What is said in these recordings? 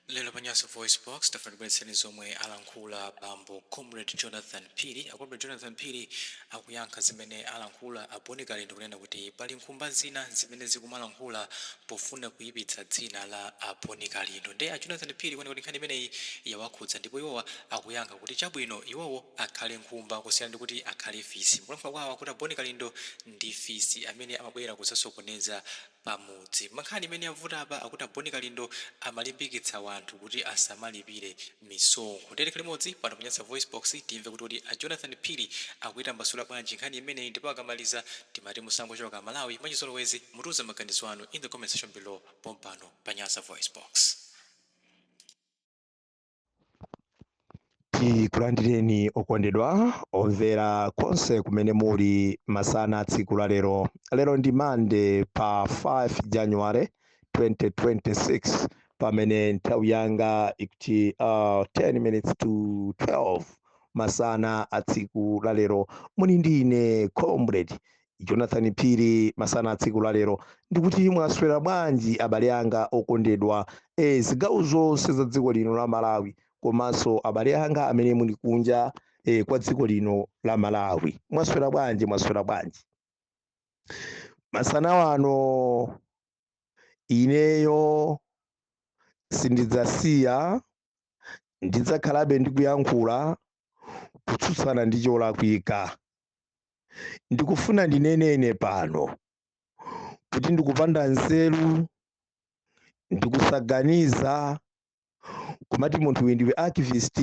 Lero pa Nyasa VoiceBox, tafuna tibweretseni zomwe alankhula bambo Comrade Jonathan Phiri. A Comrade Jonathan Phiri akuyankha zimene alankhula a Boni Kalindo kunena kuti pali nkhumba zina zimene zikumalankhula pofuna kuyipitsa dzina la a Boni Kalindo. Nde a Jonathan Phiri kuoneka kuti nkhani imeneyi yawakhudza ndipo iwowo akuyankha kuti chabwino iwowo akhale nkhumba kusiyana ndi kuti akhale fisi. Mukulankhula kwawo akuti a Boni Kalindo ndi fisi amene amabwera kudzasokoneza pamudzi. Nkhani imene yavuta apa akuti a Boni Kalindo amalimbikitsa wanthu kuti asamalipire misonkho. Tiyeni limodzi pano pa Nyasa VoiceBox timve kuti kodi a Jonathan Phiri akuyitambasula bwanji nkhani imeneyi ndipo akamaliza timati musangochoka aMalawi mwachizolowezi mutiuza maganizo anu in the comment section below pompano pa Nyasa VoiceBox. tikulandireni okondedwa omvera konse kumene muli masana a tsiku la lero lero ndi monday pa 5 january 2026 pamene nthawi yanga ikuti uh, 10 minutes to 12 masana a tsiku la lero muli ndi ine comrade jonathan phiri masana a tsiku la lero ndikuti mwaswera bwanji abale anga okondedwa e, zigawo zonse za dziko lino la malawi komanso abale anga amene muli kunja e, kwa dziko lino la malawi mwaswera bwanji mwaswera bwanji masana wano ineyo sindidzasiya ndidzakhalabe ndikuyankhula kutsutsana ndi cholakwika ndikufuna ndinene ine pano kuti ndikupanda nzeru ndikusaganiza kumati munthu uyu ndiwe activist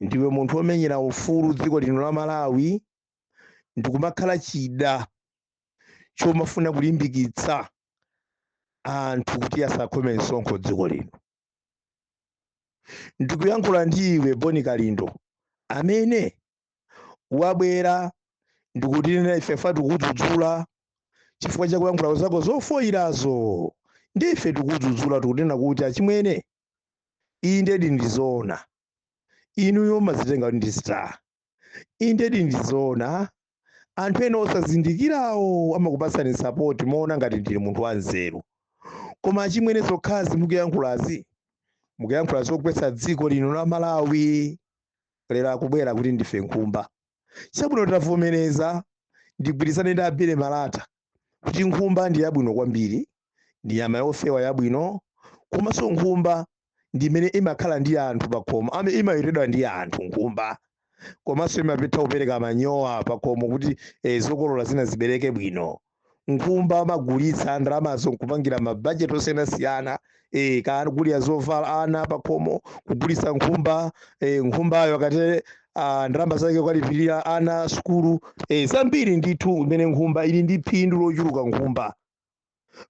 ndiwe munthu womenyera ufulu dziko lino la malawi ndikumakhala chida chomofuna kulimbikitsa anthu kuti asakhome msonkho dziko lino ndikuyankhula ndi iwe boni kalindo amene wabwera ndikutinena ife pa tikudzudzula chifukwa cha kuyankhula zako zofoyirazo ndife tikudzudzula tikunena kuti achimwene indedi ndizoona inuyo mumadzitenga kuti ndi star indedi ndizoona anthu ena osazindikirawo amakupatsani sapoti moona ngati ndinu munthu wanzeru koma achimwene zokhazi mukuyankhulazi mukuyankhula zogwetsa dziko lino la malawi lero akubwera kuti ndife nkhumba chabwino tavomereza ndigwirizane ndi abile malata kuti nkhumba ndi yabwino kwambiri ndi nyama yofewa yabwino komanso nkhumba ndi imene imakhala ndi anthu pakhomo ame imawetedwa ndi anthu nkhumba komanso imatha kupereka manyowa pakhomo kuti eh, zokolola zina zibereke bwino nkhumba amagulitsa ndalamazo nkupangira mabajeti osiyanasiyana e, kugulira zovala ana pakhomo kugulitsa nkhumba e, nkhumbayo akatele uh, ndalama zake kuwalipirira ana sukulu e, zambiri ndithu mmene nkhumba ili ndi phindu lochuluka nkhumba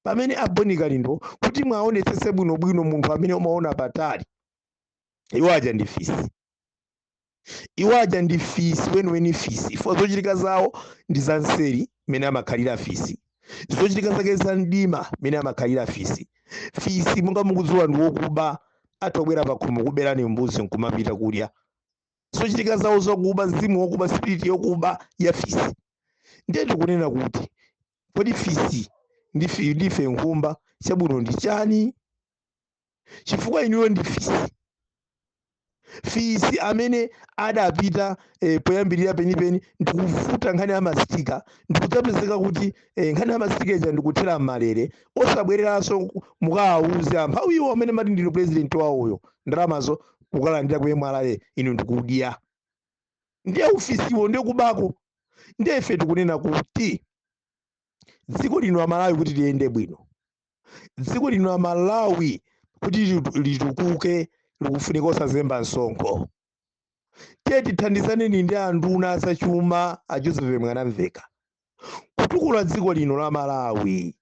pamene a Bon Kalindo kuti mwaonetsetse bwinobwino munthu amene umaona patali iwo aja ndi fisi iwo aja ndi fisi weniweni fisi ifo zochitika zawo ndi za nseri mmene amakhalira fisi zochitika zake za mdima mmene amakhalira fisi fisi monga mukudziwa ndi wokuba atha kubwera pakhomo kuberani mbuzi nkumapita kudya zochitika zawo zokuba mzimu wokuba spiriti yokuba ya fisi ndiye tikunena kuti kodi fisi ndi ife nkhumba chabwino ndi chani chifukwa inuyo ndi fisi fisi amene adapita eh, poyambirira penipeni ndikuvuta nkhani ya masitika ndikudzapezeka kuti eh, nkhani ya masitika ija ndikuthera m'malere osabwereranso ku- mukawauze amphawiwo amene mati ndinu president wawoyo ndalamazo kukalandira ku mra inu ndikudya ndiye ufisiwo ndi kubako ndiye ife tikunena kuti dziko lino la malawi kuti liyende bwino dziko lino la malawi kuti litu- litukuke likufunika osazemba msonkho tiye tithandizaneni ndi anduna azachuma a joseph mwanamvekha kutukula dziko lino la malawi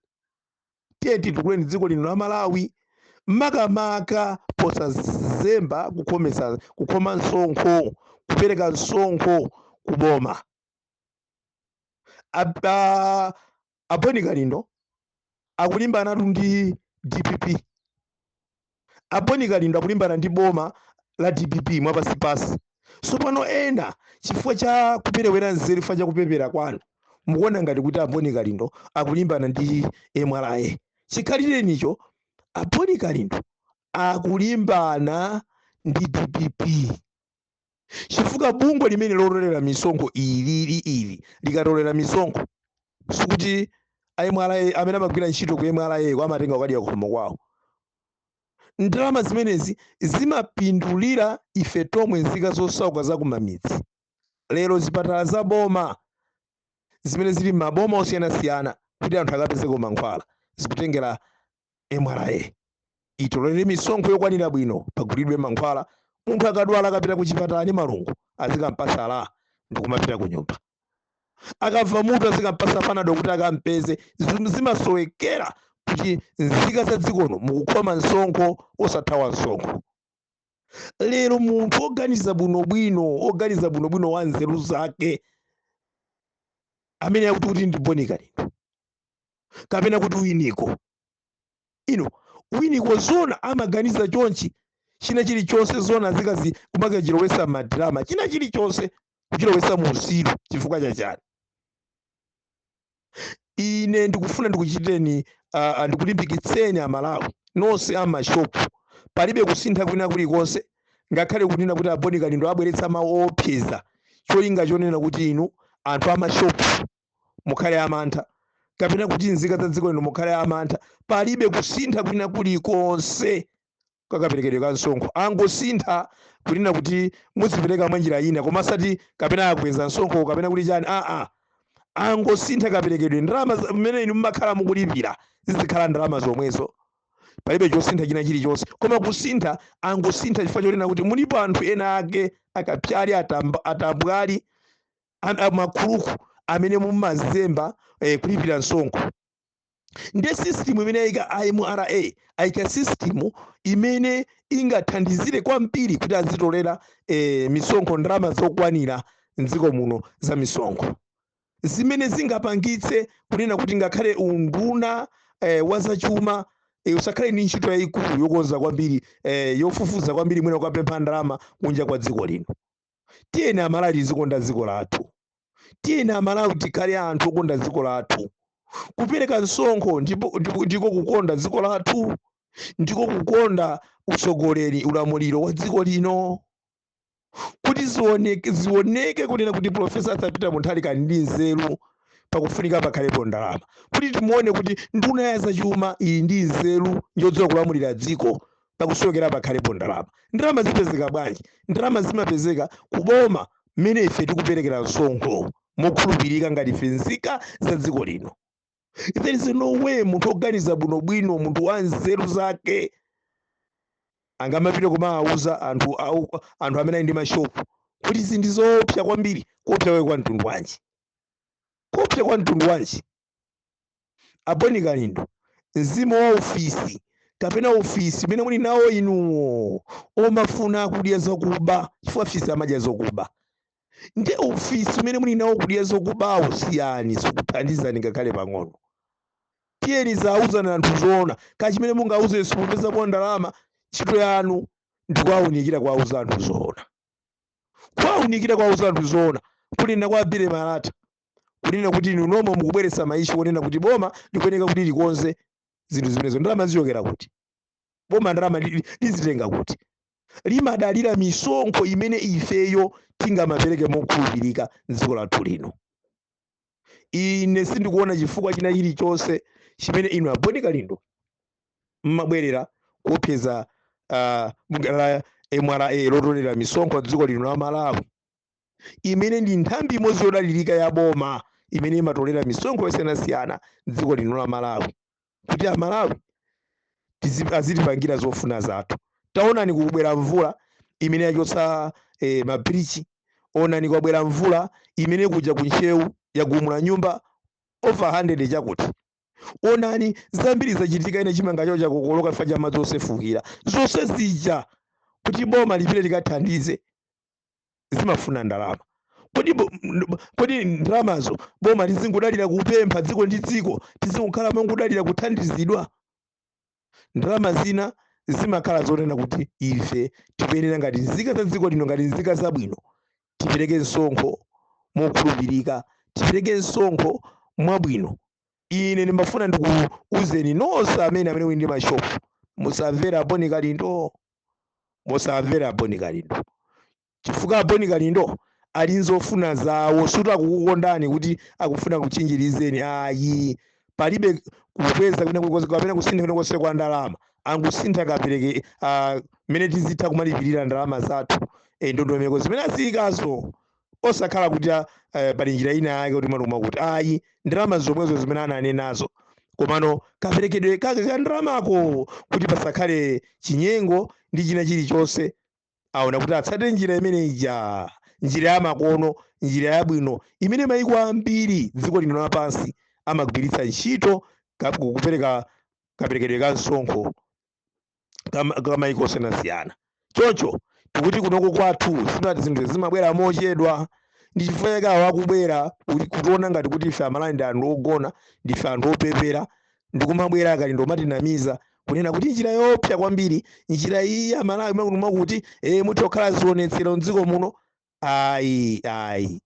tiye titukuleni dziko lino la malawi makamaka posazemba kukhoma msonkho kupereka msonkho kuboma Ab- ah, a Bon Kalindo akulimbanatu ndi dpp a Bon Kalindo akulimbana ndi boma la dpp mwapansipansi sopano ena chifukwa cha kuperewera nzeru chifukwa cha kupepera kwanu mukuona ngati kuti a Bon Kalindo akulimbana ndi mra chikhalirenicho a Bon Kalindo akulimbana ndi dpp chifukwa bungwe limeneli lotolera misonkho ili ili ili likatolera misonkho sikuti a mra amene amagwira ntchito ku mra ko amatenga kukadya kukhomo kwawo ndalama zimenezi zimapindulira ife tomwe nzika zosauka za kumamidzi lero zipatala za boma zimene zili m'maboma osiyanasiyana kuti anthu akapezeko mankhwala zikutengera mra itolere misonkho yokwanira bwino pagulidwe mankhwala munthu akadwala akapita ku chipatala ndi malungu azikampasa LA ndikumapita ku nyumba akamva mutu azikampasa panado kuti akampeze zinthu zimasowekera kuti nzika za dziko lino mukukhoma msonkho osathawa msonkho lero munthu oganiza bwinobwino oganiza bwinobwino wa nzeru zake amene akuti kuti ndi boni kalindo kapena kuti winiko ino winiko zona amaganiza chonchi china chilichonse zona zikazi kumakachilowesa madrama china chilichonse kuchilowesa muusiru chifukwa chachani ine ndikufuna ndikuchiteni uh, ndikulimbikitseni amalawi nonse amashopu palibe kusintha kwina kulikonse ngakhale kunena kuti aboni kalindo abweretsa mawu oopseza cholinga chonena kuti inu anthu amashopu mukhale amantha kapena kuti nzika za dziko lino mukhale amantha palibe kusintha kwina kulikonse kakaperekedwe ka msonkho angosintha kunena kuti muzipereka mwa njira ina koma osati kapena akweza msonkho kapena kuti chani aa angosintha kaperekedwe ndalama za- mmene inu mumakhala mukulipira zizikhala ndalama zomwezo palibe chosintha china chilichonse koma kusintha angosintha chifukwa chonena kuti mulipo anthu ena ake akapyali atamba- atambwali am- am- makhuluku amene mumazemba eh, kulipira msonkho nde system imene ayika mra ayika system imene ingathandizire kwambiri kuti azitolera eh, misonkho ndalama zokwanira mdziko muno za misonkho zimene zingapangitse kunena kuti ngakhale unduna eh, wa zachuma eh, usakhale ndi ntchito yayikulu yokonza kwambiri eh, yofufuza kwambiri mwina ukapempha ndalama kunja kwa dziko lino tiyeni amalawi tizikonda dziko lathu tiyeni amalawi tikhale anthu okonda dziko lathu kupereka msonkho ndipo- ndipo- ndiko kukonda dziko lathu ndiko kukonda utsogoleri ulamuliro wa dziko lino kuti zioneke zioneke kunena kuti profesa arthur peter mutharika ali ndi nzeru pakufunika pakhalepo ndalama kuti timuone kuti nduna ya zachuma ili ndi nzeru yodziwa kulamulira dziko pakusowekera pakhalepo ndalama ndalama zipezeka bwanji ndalama zimapezeka kuboma mmene ife tikuperekera msonkho mokhulupirika ngati ife nzika za dziko lino there is no way munthu woganiza bwinobwino munthu wa nzeru zake angamapite kumawawuza anthu au- anthu amene ali ndi mashopu kuti izi ndi zoopsa kwambiri kuopsa kwake kwa mtundu wanji kuopsa kwa mtundu wanji A Boni Kalindo, mzimu wa ufisi kapena ufisi umene muli nawo inuwo omafuna kudya zokuba chifukwa fisi amadya zokuba nde ufisi umene muli nawo kudya zokubawo siyani sikuthandizani ngakhale pang'ono tiyeni ziwauzani anthu zoona kaya chimene mungauze simupezapo ndalama ntchito yanu ndikuwaunikira kuwauza anthu zoona kuwaunikira kuwauza anthu zoona kunena kwa a bile malata kunena kuti inu nomwe mukubweretsa maishu onena kuti boma likuyeneka kuti likonze zinthu zimenezo ndalama zichokera kuti boma ndalama li- li- lizitenga kuti limadalira misonkho imene ifeyo tingamapereke mokhulupirika m'dziko lathu lino ine sindikuona chifukwa china chilichonse chimene inu a boni kalindo mmabwerera kuopseza uh, la mra lotolera misonkho m'dziko lino la malawi imene ndi nthambi imodzi yodalirika ya boma imene imatolera misonkho yosiyanasiyana m'dziko lino la malawi kuti amalawi tizi- azitipangira zofuna zathu taonani kubwera mvula imene yachotsa eh, mabirichi onani kwabwera mvula imene kuja ku ntcheu yagumula nyumba over 100 chakuti onani zambiri zachitika ena chimanga chawo chakokoloka chifukwa cha madzi osefukira zonse zija kuti boma lipite likathandize zimafuna ndalama kodi bo- n- bo- kodi ndalamazo boma lizingodalira kupempha dziko ndi dziko tizingokhala mongodalira kuthandizidwa ndalama zina zimakhala zonena kuti ife tiyenera ngati nzika za dziko lino ngati nzika zabwino tipereke msonkho mokhulupirika tipereke msonkho mwabwino ine ndimafuna ndikuuzeni nonse amene amene muli ndi mashopu musamvera a boni kalindo musamvere a boni kalindo chifukwa a boni kalindo ali nzofuna zawo sikuti akukukondani kuti akufuna akutchinjirizeni ayi palibe kukweza kwina kulikonse kapena kusintha kwina konse kwa ndalama angosintha kapereke ah, mmene tizitha kumalipirira ndalama zathu eh, ndondomeko zimene aziyikazo osakhala kuti a- eh, pali njira ina yake kuti matuma kuti ayi ndalama zomwezo zimene ananenazo komano kaperekedwe kake ka ndalamako kuti pasakhale chinyengo ndi china chilichonse aona kuti atsate njira imene ija njira yamakono njira yabwino imene maiko ambiri dziko lino lapansi amagwiritsa ntchito ka- kupereka kaperekedwe ka msonkho ka maiko osiyanasiyana choncho tikuti kunoko kwathu sinati zinthu zimabwera mochedwa ndi chifukwa chake awo akubwera kutiona ngati kuti ife amalawi ndi anthu ogona ndife anthu opepera ndikumabwera a kalindo kumatinamiza kunena kuti njira yoopsa kwambiri njira iyi amalawi mwakuti mwakuti e muthe kukhala zionetsero mdziko muno ayi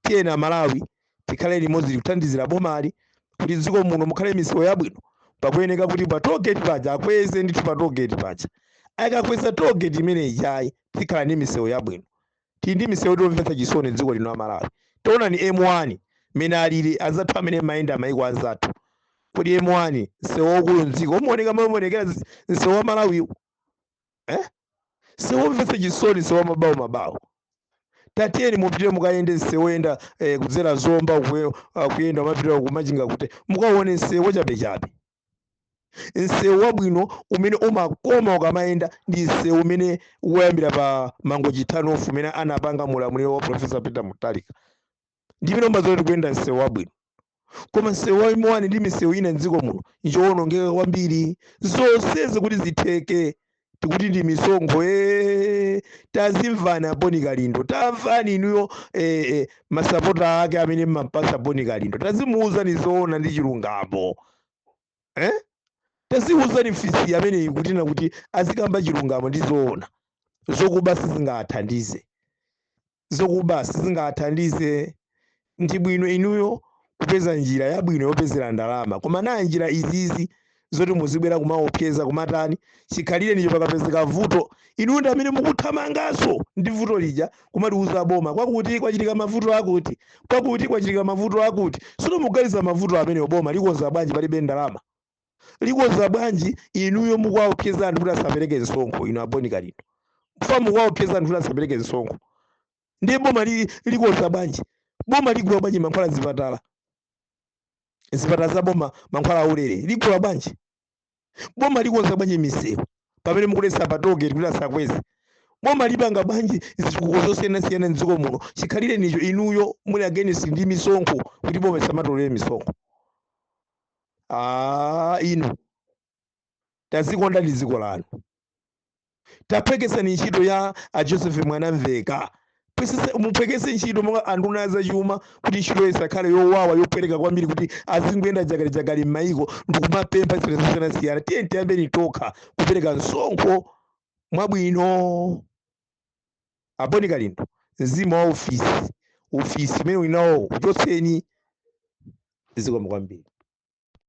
tiyeni amalawi tikhale limodzi kuthandizira bomali kuti dziko muno mukhale misewu yabwino pakuyeneka kuti pa togeti paja akweze ndithu pa togeti paja akakweza togeti imene ijayi tikhala ndi misewu yabwino tili ndi misewu yomvetsa chisoni dziko lino amalawi taonani m1 mene alili anzathu amene mmayenda mmayiko anzathu kodi m1 msewu waukulu mdziko umaoneka momwe umaonekera msewu wa malawiwu eh? nsewu womvetsa chisoni nsewu wa mabawo mabawo tatiyeni mupitire mukayende nsewu woyenda eh, kudzera zomba kuye- ah, kuyenda kumapita kumachinga kuti mukaone nsewu wachabechabe nsewu wabwino umene umakoma ukamayenda ndi nsewu umene woyambira pa mangochi turn off umene anapanga mulamuliro wa profesa peter mutharika ndimene umadziwa ukuyenda msewu wabwino koma msewu wa M1 ndi misewu ina mdziko muno njowonongeka kwambiri zonsezi kuti zitheke tikuti ndi misonkho ee tazimvani aboni kalindo tamvani inuyo ee ee, masapota ake amene mmapasa boni kalindo tazimuuzani zoona ndi chilungamo eh? taziuzani fisi ameneyi kutina kuti azikamba chilungamo ndi zoona zokuba sizingathandize zokuba sizingathandize. Ndi bwino inuyo kupeza njira yabwino yopezera ndalama. Koma nanga njira izizi zoti muzibwera kumaopseza kumatani, chikhalirenicho pakapezeka vuto inuyo ndi amene mukuthamanganso ndi vuto lija kumaliuza boma, kwakuti kwachitika mavuto akuti, kwakuti kwachitika mavuto akuti. Tsono mukuganiza mavuto amenewo boma likonza bwanji palibe ndalama? likonza bwanji inuyo mukuwaopseza anthu kuti asapereke msonkho inu aboni kalindo fisi mukuwaopseza anthu kuti asapereke msonkho ndiye boma li- likonza bwanji boma ligula bwanji mankhwala zipatala zipatala za boma mankhwala aulere ligula bwanji boma likonza bwanji misewu pamene mukuletsa patogeti kuti asakweze boma lipanga bwanji zitukuko zosiyanasiyana mdziko muno chikhalire nicho inuyo muli against ndi misonkho kuti boma lisamatolere misonkho Ah, inu tazikondani dziko lanu taphweketsani ntchito ya a joseph mwanamveka muphweketse ntchito monga anduna a zachuma kuti ntchito isakhale yowawa yopweteka kwambiri kuti azingoyenda jagalijagali m'mayiko ndikumapempha zinthu zosiyanasiyana tiyeni tiyambeni tokha kupereka msonkho mwabwino Aboni Kalindo, mzimu wa ufisi ufisi umene muli nawowo uchotseni. Zikomo kwambiri.